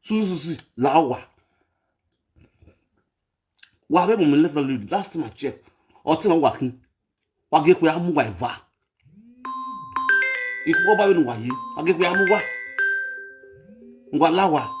suzuzi lawa wa be mo me let you last time i check o ti won wa kin wa ge pe amu wa iva iku ba be nu wa yi wa ge pe amu wa ngwa lawa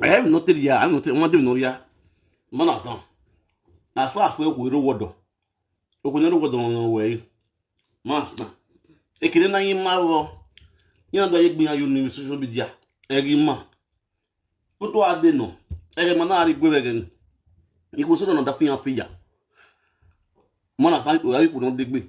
I have nothing here. I have nothing. One thing no here. Man of God. As far as we go, no word. We go no word on no way. Master. Ekele na yin ma wo. Yin ando ye gbiyan you ni social media. Eri ma. Ko to ade no. Eri ma na ri gbe be ni. Iku so na da fi yan fi ya. Man of God, we are people no dey gbe.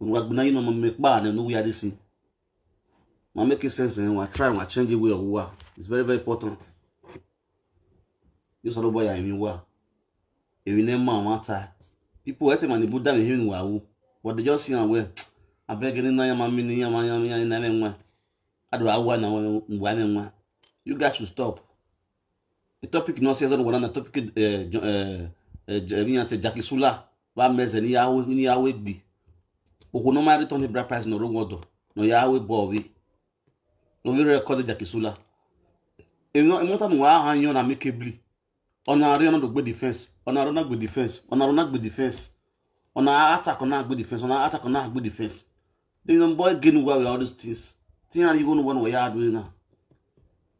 una go na you know me pa and no where this ma make sense and wa try wa change the way of wa it's very very important you sort of boy i mean wa ewi ne ma wa ta people e te ma ni bu da me hin wa wo but they just see am well abeg ni na ya ma mi ni ya ma ya mi ya na me nwa adu awa na wa me nwa you guys should stop topic no se zan wana topic eh eh eh ni ante jackie sula ba meze ni yawe ni yawe gbi oku no ma return bra price no rongo do no yawe bo wi no we record jackie sula e no e mo tan wa han yon na make bli ona re ona do gbe defense ona re na gbe defense ona re na gbe defense ona attack ona gbe defense ona attack ona gbe defense then boy gain well with all these things tin are you going to want we are doing now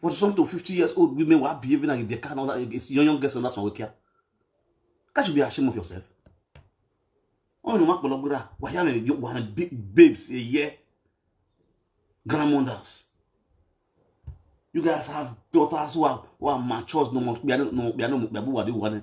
for some to fifty years old women were behaving like they can't other young young girls on that one wikia that should be ashamed of yourself oh no makpolo gura waya me you wanna big babes a year grandmothers you guys have daughters who are who are mature no more we are no we are no we are who are the one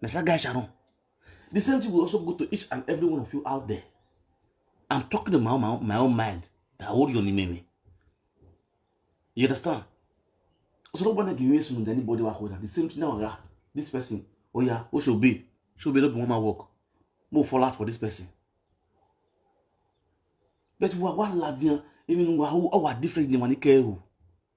na sa guy sharon the same thing will also go to each and every one of you out there i'm talking in my own, my own, my own mind that i hold you on the memory you understand so nobody give me soon anybody wa hold am the same thing now oga this person oya o should be should be no be one man work mo fall out for this person but wa wa ladiyan even wa wa different ni wa ni kẹrù.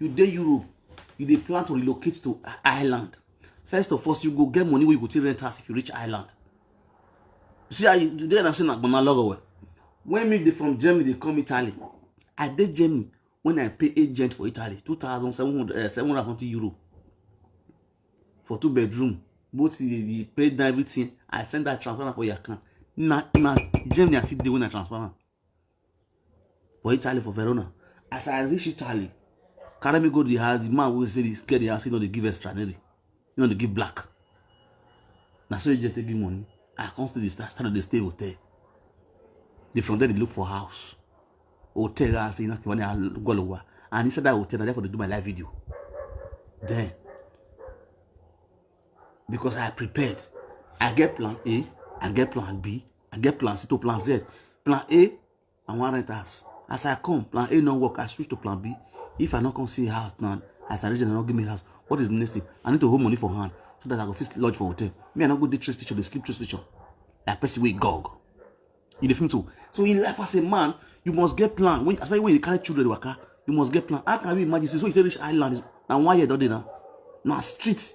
you dey europe you dey plan to relocate to ireland first of all you go get money wey you go take rent house if you reach ireland you see how you do there na say na gbona lọrọ well when me dey from germany dey come italy i dey germany when i pay agent for italy two thousand seven hundred eh, seven hundred twenty euro for two bedroom both the the paid na everything i send that transfer for your account na na germany i still dey when i transfer am for Italy for Verona as I reach Italy carry me go the house the man wey say he scared the house he no dey give extra neri he no dey give black na so he just take give money I come still dey start start to dey stay hotel the from there dey look for house hotel wey I say na kiwani agolowa and inside that hotel na there for dey do my live video then because I prepared I get plan A I get plan B I get plan C to plan Z. Plan A, I wan rent house. As I come, plan A no work. I switch to plan B. If I no come see house now, as I reach, they no give me house. What is the next thing? I need to hold money for hand so that I go fit lodge for hotel. Me, I no go dey trace teacher, dey sleep trace teacher. Like person wey gog. You dey feel so? So in life as a man, you must get plan. When, especially when you carry children waka, you must get plan. How can you imagine? So you take reach island, na one year don dey now. Na street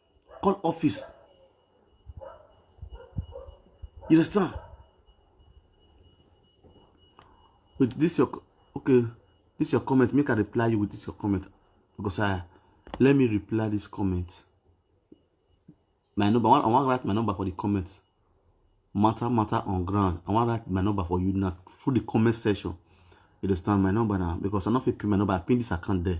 call office you understand with this your okay this your comment make i reply you with this your comment because i let me reply this comment my number i wan write my number for the comments matter matter on ground i wan write my number for you now through the comment section you understand my number now because i no fit pin my number i pin this account there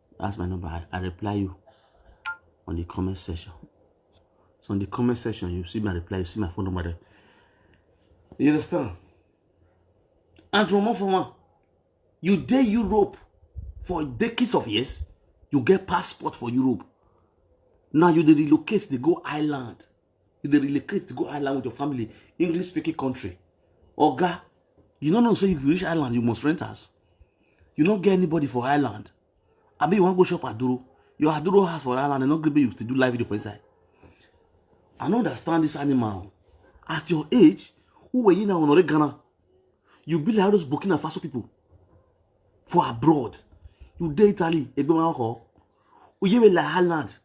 That's my number. I, I reply you on the comment section. So on the comment section, you see my reply, you see my phone number there. You understand? And from one for one, you dey Europe for decades of years, you get passport for Europe. Now you dey relocate, they go Ireland. you dey relocate to go island with your family english speaking country oga you no know say if you reach island you must rent house you no get anybody for island abi you wan go shop aduro your aduro house for island and no gree make you still do live video for inside i no understand this animal at your age who were you now honore ghana you be like those burkina faso people for abroad you dey italy egbemawo oyewela island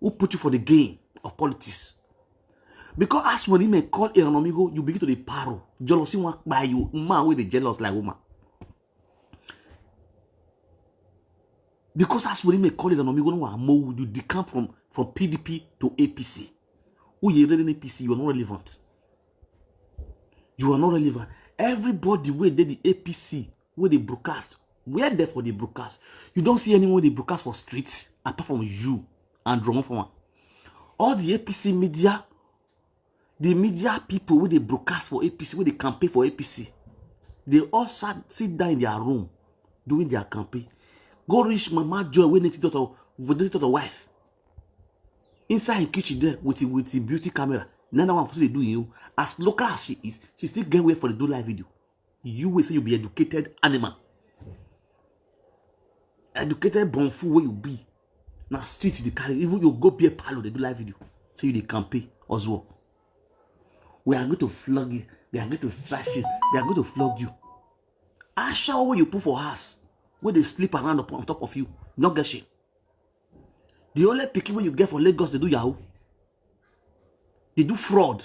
who put you for the game of politics because as when him call Iranomigo you begin to dey paro jealousy wan kpai you man wey dey jealous like woman because as when him call Iranomigo no wan mow you decamp from from PDP to APC who you really APC you are not relevant you are not relevant everybody wey dey the APC wey dey broadcast where dem for dey broadcast you don see anyone dey broadcast for street apart from you and drama for am all the apc media the media people wey dey broadcast for apc wey dey campaign for apc dey all sat sit down in their room during their campaign go reach mama joy wey native daughter wey native daughter wife inside im kitchen there with im with im beauty camera na that one for still dey do im own as local as she is she still get way for dey do live video you wey say you be educated animal educated born fool wey you be na street you dey carry even you go beer parlour dey do live video say you dey campaign oswald we are going to flog you we are going to slash you we are going to flog you ashawo wey you put for house wey dey sleep around on top of you no get shame the only pikin wey you get for lagos dey do yahoo dey do fraud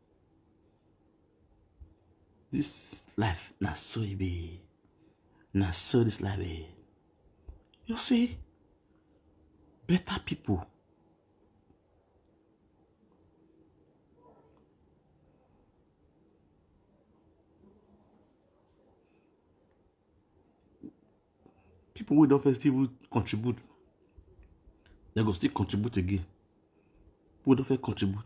This life na so e be. Na so this life be. You see, better people people wey don first even contribute dem go still contribute again people wey don first contribute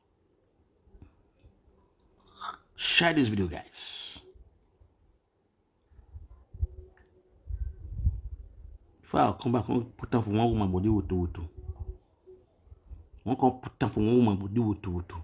Share this video, guys. If I come back, I'll put down for one woman body with two. One can put down for one woman body with two.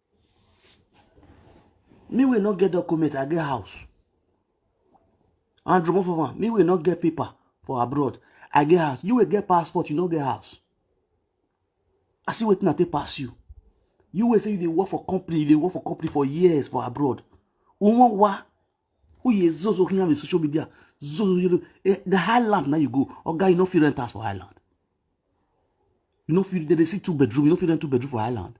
me wey no get document i get house and drop of am me wey no get paper for abroad i get house you wey get passport you no get house i see wetin i take pass you you wey say you dey work for company you dey work for company for years for abroad wọn wá oyè zozo kí n yàrá social media zozo yẹrẹ eh, the highland na you go oga you no fit rent house for highland you no fit dey see two bedroom you no fit rent two bedroom for highland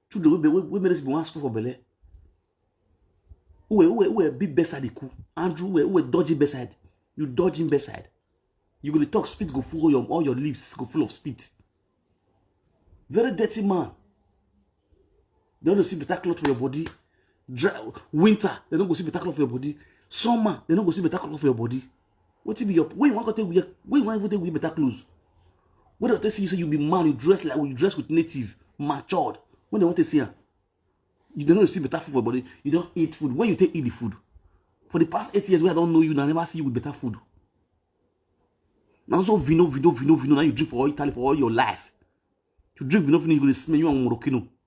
children wey be wey make this be one school for belle uwe uwe uwe big bedside iku andrew uwe uwe dodgy bedside you dodge him bedside you go dey talk spit go full all your all your lips go full of spit very dirty man they no dey see better cloth for your body dry winter they no go see better cloth for your body summer they no go see better cloth for your body wetin be your wey you wan go take wear wey you wan even take wear better clothes wey dem take see you say you be man you dress like you dress with native matured wey dem wan take see am you dey know you see better food for body you don eat food when you take eat the food for the past eight years wey i don know you na i never see you with better food na so vino vino vino vino na you drink for all italy for all your life you drink vino vino you go dey smell you and morokino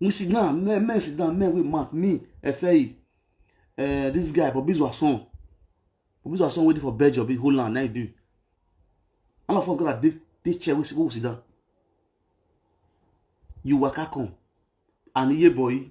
we sit down men men sit down men wey mouth me efeyi uh, eh, this guy bobi zwason bobi zwason wey dey for belgium bin holland na he do all of us gada dey dey chair wey we sit down you waka come and iye boyi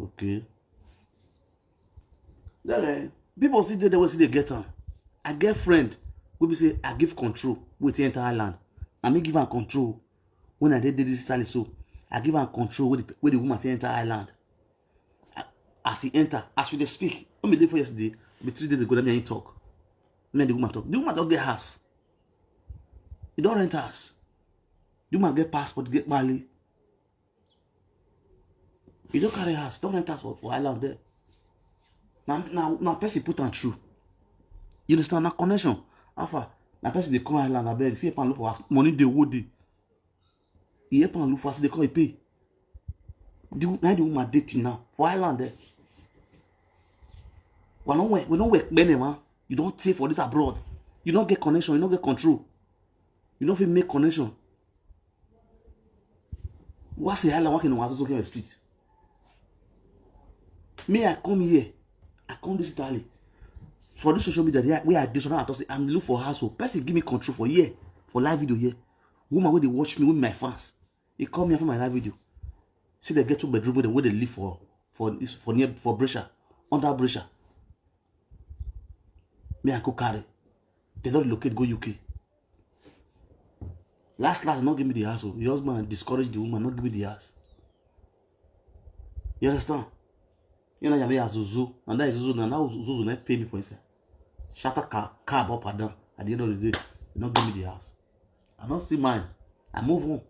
okay then eh, people still dey there wey still dey get am i get friend wey be say i give control wey take enter island na me give am control when i dey dey this italy so i give am control wey the, wey the woman take enter island as he enter as we dey speak no be day before yesterday be three days ago na me and him talk me and the woman talk the woman don get house he don rent house the woman get passport get mali he don carry house don rent house for for island there na na na person put am through you understand na connection how far na person dey come island abeg if you help am look for house money dey owó dey e help am look for as e dey come e pay the na the woman dey till now for island there we no work we no work many man you don tey for this abroad you no get connection you no get control you no fit make connection wá sí island wá kí ni wọn asoso kí wọn street me i come here i come this italy for this social media wey i dey so now i talk say i'm look for house o person give me control for here for live video here woman wey dey watch me wey be my fans e call me after my live video say dem get two bedroom wey dem wey dey live for for for near for brescia under brescia me i go carry dem don relocate go uk last last no give me the house o the husband discourage the woman no give me the house you understand you know yamma yazuzu and that zuzu na now zuzu na pay me for inside shatter car cab up and down at the end of the day no give me the house. I no still mind. I move on.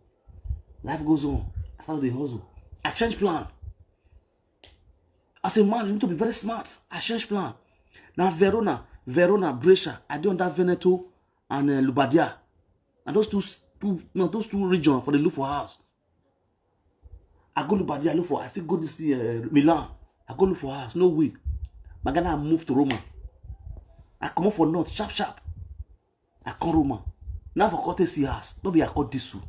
Life goes on. I start the hustle. I change plan. As a man, you need to be very smart. I change plan. Now Verona, Verona, Brescia, I do under Veneto and uh, Lubadia. And those two, two, no, those two regions for the look for house. I go Lubadia, I look for, I still go this uh, Milan. I go look for house, no way. My Ghana, I move to Roma. I come up for North, sharp, sharp. I come Roma. Now for come see house. No be I come this one.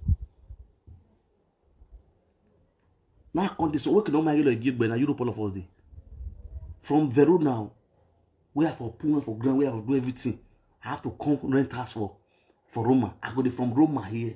Now I come this one. Wake no my yellow again, but na Europe all of us dey. From Verona, where I for pool for ground, where I for do everything. I have to come rent house for for Roma. I go dey from Roma here.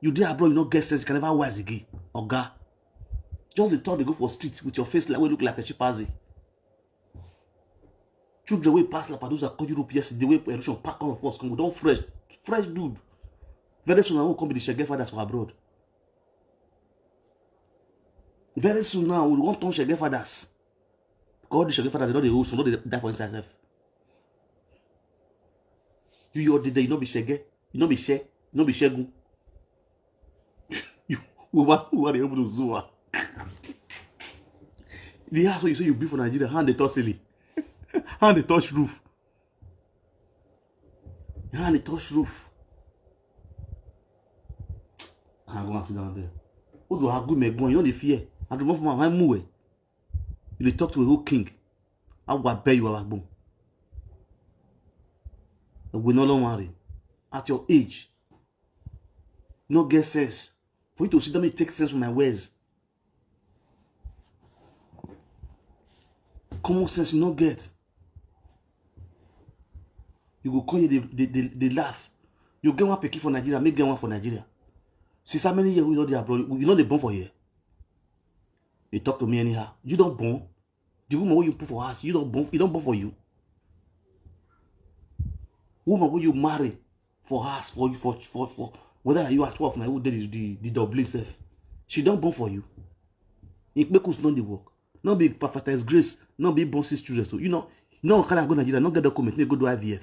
you dey abroad you no get sense you can never wise again oga just dey turn dey go for street with your face like wey look like a chimpanzee children wey pass lapadosa come europe yesterday wey erosion pack all of us come we don fresh fresh dude very soon i wan come be the shege fathers for abroad very soon now we wan turn shege fathers because all the shege fathers dey don dey old so no dey die for inside sef you your dey there you no be shege you no be she you no be shegun you we wan we wan dey open to zoo ah the house wey you say you build for nigeria hand dey touch ceiling hand dey touch roof hand dey touch roof can go and sit down there o do agu me gbon you no dey fear adumo fún ma wá mú ẹ you dey talk to a whole king agwa bẹ you agbo ẹgbẹ náà lọ́wọ́ rẹ at your age no get sense for you to sit down and take sense from my words common sense you no get you go come here dey dey dey dey laugh you get one pikin for nigeria make get one for nigeria since how many years we don dey abroad you no dey born for here you talk to me anyhow you don born the woman wey you put for house you don born e don born for you woman wey you marry for house for you for for for whether na you at twelve na you dey the the the dublin sef she don born for you ikpekus no dey work no be prophetess grace no be born six children so you know no carry am go nigeria no get document make you go do ivf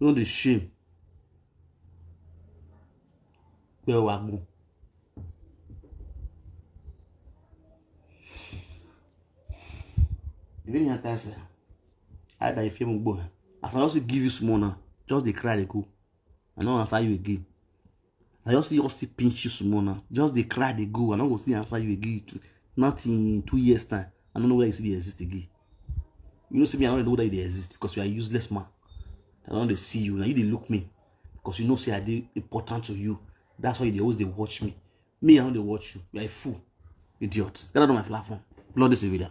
You no dey shame. Pé o wá gbọ́n. You really not answer. I that you feel me boy. As I also give you small now, just dey cry dey go. I no answer you again. I just just still pinch you small now. Just dey cry, dey go. I no go still answer you again. Not in two years time. I don't know where you still exist again. You know, see me, I don't know whether you exist because you are useless man. I don't see you. Now you they look me because you know say I dey important to you. That's why they always they watch me. Me, I don't they watch you. You are a fool, idiot. Get out of my platform, bloody civilian.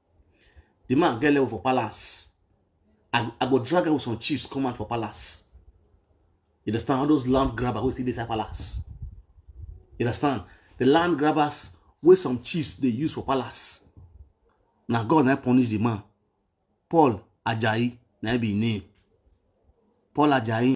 the man get level for palace i i go drag am with some chiefs come out for palace you understand all those land grabbers wey still dey inside palace you understand the land grabbers wey some chiefs dey use for palace na god na punish the man paul ajayi na be him name paul ajayi